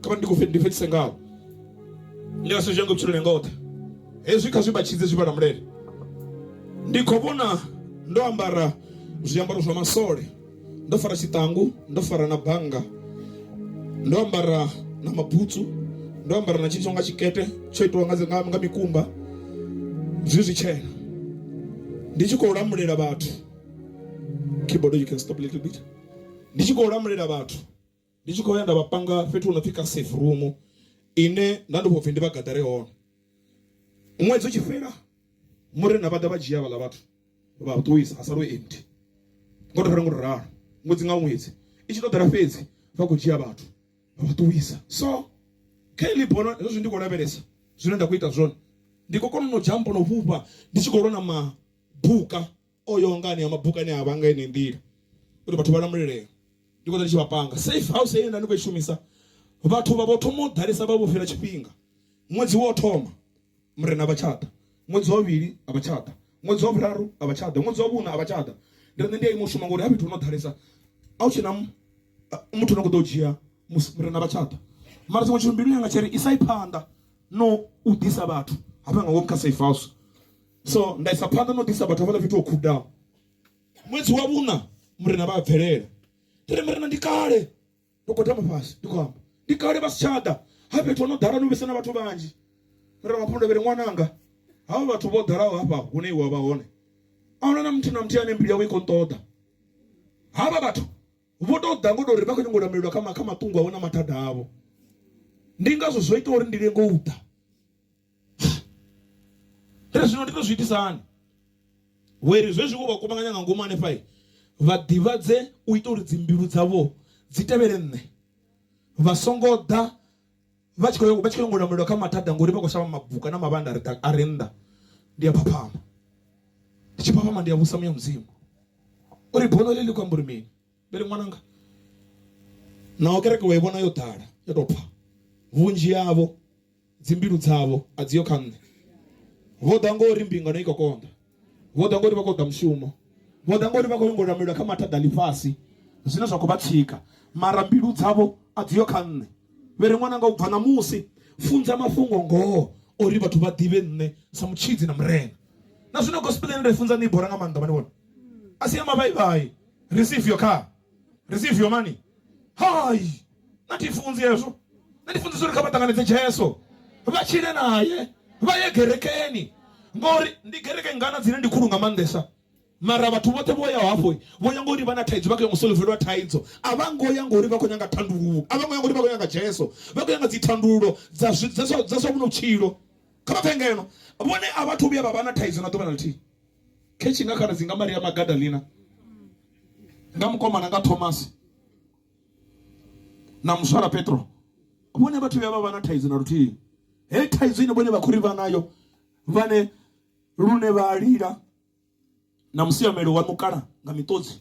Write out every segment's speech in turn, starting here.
kha vha ndi khou ndi fhedzise ngaho ndi nga si zwi yange vhutshiloni nga oṱhe hezwi kha zwi vhatshidze zwi vhalamulele ndi khou vhona ndo ambara zwiambaro zwa masole ndo fara tshiṱangu ndo fara na bannga ndo ambara na mabutsu ndo ambara na tshithu nga tshikete tsho itiwa nga, nga, nga mikumba zwi zwitshena ndi tshi khou lamulela vhathu keyboard you can stop a little bit ndi tshi khou lamulela vhathu Ndi tshi khou ya nda vha panga fhethu hu no pfi kha safe room ine nda ndi khou pfhi ndi vha gaḓare hone. Ṅwedzi u tshi fhela murena vha ḓa vha dzhia havhaḽa vhathu vha ṱuwisa ha sala hu empty ngo to ralo ngo to ralo ṅwedzi nga ṅwedzi i tshi to ḓala fhedzi vha khou dzhia vhathu vha vha ṱuwisa. So kha heḽi bono zwezwi ndi khou lavhelesa zwine nda khou ita zwone ndi khou kona no dzhampa no fhufha ndi tshi khou lwa na mabuka. O yaho nga anea mabuka ane a vha nga yeneyi nḓila uri vhathu vha lamulelea, ndi khou ḓa ndi tshi vha panga. Safe house heyi ye nda ndi khou i shumisa, vhathu vha vho thoma u ḓalesa vha vho fhira tshifhinga. Ṅwedzi wo thoma Murena a vha tsha ḓa, ṅwedzi wa vhuvhili a vha tsha ḓa, ṅwedzi wa vhuraru a vha tsha ḓa, ṅwedzi wa vhuṋa a vha tsha ḓa. Ndi ri nṋe ndi a ima u shuma ngori ha fhethu ho no ḓalesa a hu tshena muthu ane a khou ḓa u dzhia musi Murena a vha tsha ḓa. Mara tshiṅwe tshithu mbiluni yanga tsha ri isai phanḓa no u ḓisa vhathu hafha nga ngomu kha safe house. so nda isa phanḓa na u ḓisa vhathu havhala fhethu ho khudaho ṅwedzi wa vhuna murena vha a bvelela ndi ri murena ndi kale ndo gwadama fhasi ndi khou amba ndi kale vha si tsha ḓa ha fhethu ho no ḓala no vhesa na vhathu vhanzhi murena wa phundavhele ṅwananga havha vhathu vho ḓalaho hafha hune iwe wa vha hone a huna na muthu na muthihi ane mbilu yawe i khou nṱoḓa havha vhathu vho tou ḓa ngo tou ri vha khou nyanga u lamelelwa kha matungo avho na mathada avho ndi ngazwo zwo ita uri ndi lenge u ḓa Ri zwino ndi ḓo zwi itisa hani? Wee ri zwezwi vho vha kuvhanganya nga ngomu hanefha, vha ḓivhadze u ita uri dzimbilu dzavho dzi tevhele nṋe, vha songo ḓa vha tshi khou vha tshi khou nyanga u lamulela kha mathada ngori vha khou shavha mabuka na mavhanda a re a re nnḓa. Ndi a phaphama, ndi tshi phaphama ndi a vhusa Muya Mudzimu uri bono heḽi ḽi khou amba uri mini. Ndi ri, Ṅwananga, naho kereke wa i vhona yo ḓala, yo tou pfa, vhunzhi havho dzimbilu dzavho a dzi ho kha Nṋe. Vho ḓa nga uri mbingano i khou konḓa, vho ḓa nga uri vha khou ṱoḓa mushumo, vho ḓa nga uri vha khou nyanga u lamulela kha mathada a ḽifhasi zwine zwa khou vha tsika, mara mbilu dzavho a dzi ho kha Nṋe. Vhe ri, Ṅwananga, u bva ṋamusi funza mafhungo-ngoho uri vhathu vha ḓivhe Nṋe sa Mutshidzi na Murena. Na zwino gospel ine nda i funza ni i bora nga maanḓa, vha ni vhona? A si ya mavhaivhai. receive your car receive your money hai na thi funzi hezwo na ndi funzi zwo ri kha vha ṱanganedze jesu vha tshile naye vha ye gerekeni ngori ndi gereke ngana dzine ndi khulu nga maanḓesa mara vhathu vhoṱhe vho yaho hafho vho ya ngori vha na thaidzo vha khou ya ngo solvelwa thaidzo a vha ngo ya ngori vha khou nyanga thandululo a vha ngo ya ngori vha khou nyanga jesu vha khou nyanga dzi thandululo dza zwi- dza zwa dza zwa vhuno vhutshilo kha vha pfhe ngeno vhone a vhathu vhuya vha vha na thaidzo na ḓuvha na ḽithihi Khetshe nga khaladzi nga Maria Magadalena nga mukomana nga Thomasi na muswala Petro vhone vhathu vhuya vha vha na thaidzo na luthihi. Heyi thaidzo ine vhone vha khou ri vha nayo vhane lune vha lila na musiamelo wa mukala nga miṱodzi.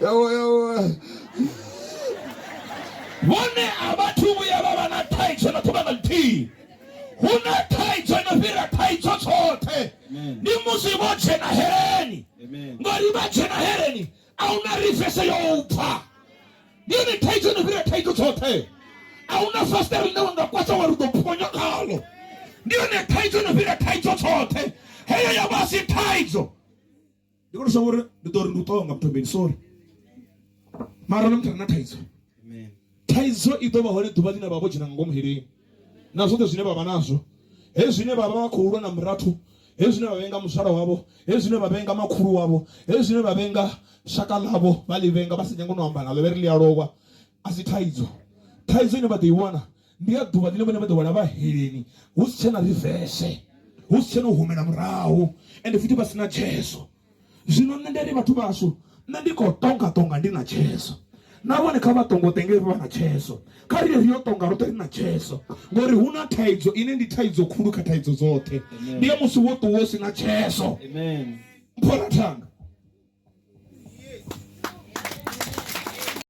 yawa yawa vhone a vhathu vhuya vha vha na thaidzo na ṱuvha na ḽithihi hu na thaidzo no fhira thaidzo tshoṱhe ndi musi vho dzhena heleni ngori vha dzhena heleni a hu na rifese yo u pfa ndi yone thaidzo no fhira thaidzo tshoṱhe a hu na fasiṱere ḽine wa nga kwasha wa ri ḓo phonya khalo ndi yone thaidzo no fhira thaidzo tshoṱhe heyo ya vha si thaidzo ndi kone shavha uri ndi ḓo ri ndi u ṱonga muthobeni sorry mara na muthu re na thaidzo thaidzo i ḓo vha hone ḓuvha ḽine vha vho dzhena nga ngomu heleni na zwoṱhe zwine vha vha nazwo hezwi zwine vha vha vha khou lwa na murathu hezwi zwine vha vhenga muzwala wavho hezwi zwine vha vhenga makhulu wavho hezwi zwine vha vhenga shaka ḽavho vha ḽi vhenga vha si nyanga no amba naḽo vhe ri ḽi a lowa a si thaidzo thaidzo ine vha ḓo i wana ndi ya ḓuvha ḽine vhone vha ḓo wana vha heleni hu si tshena rivese hu si tshena u humela murahu ende futhi vha si na tshezo zwino nṋe ndi ri vhathu vhashu nṋe ndi khou tonga tonga ndi na tshezo na vhone kha vha tongo tenge vha na tshezo kha ri ri yo tonga roṱhe ri na tshezo ngori hu na thaidzo ine ndi thaidzo khulu kha thaidzo dzoṱhe ndi ya musi wo ṱuwa u si na tshezo mphora thanga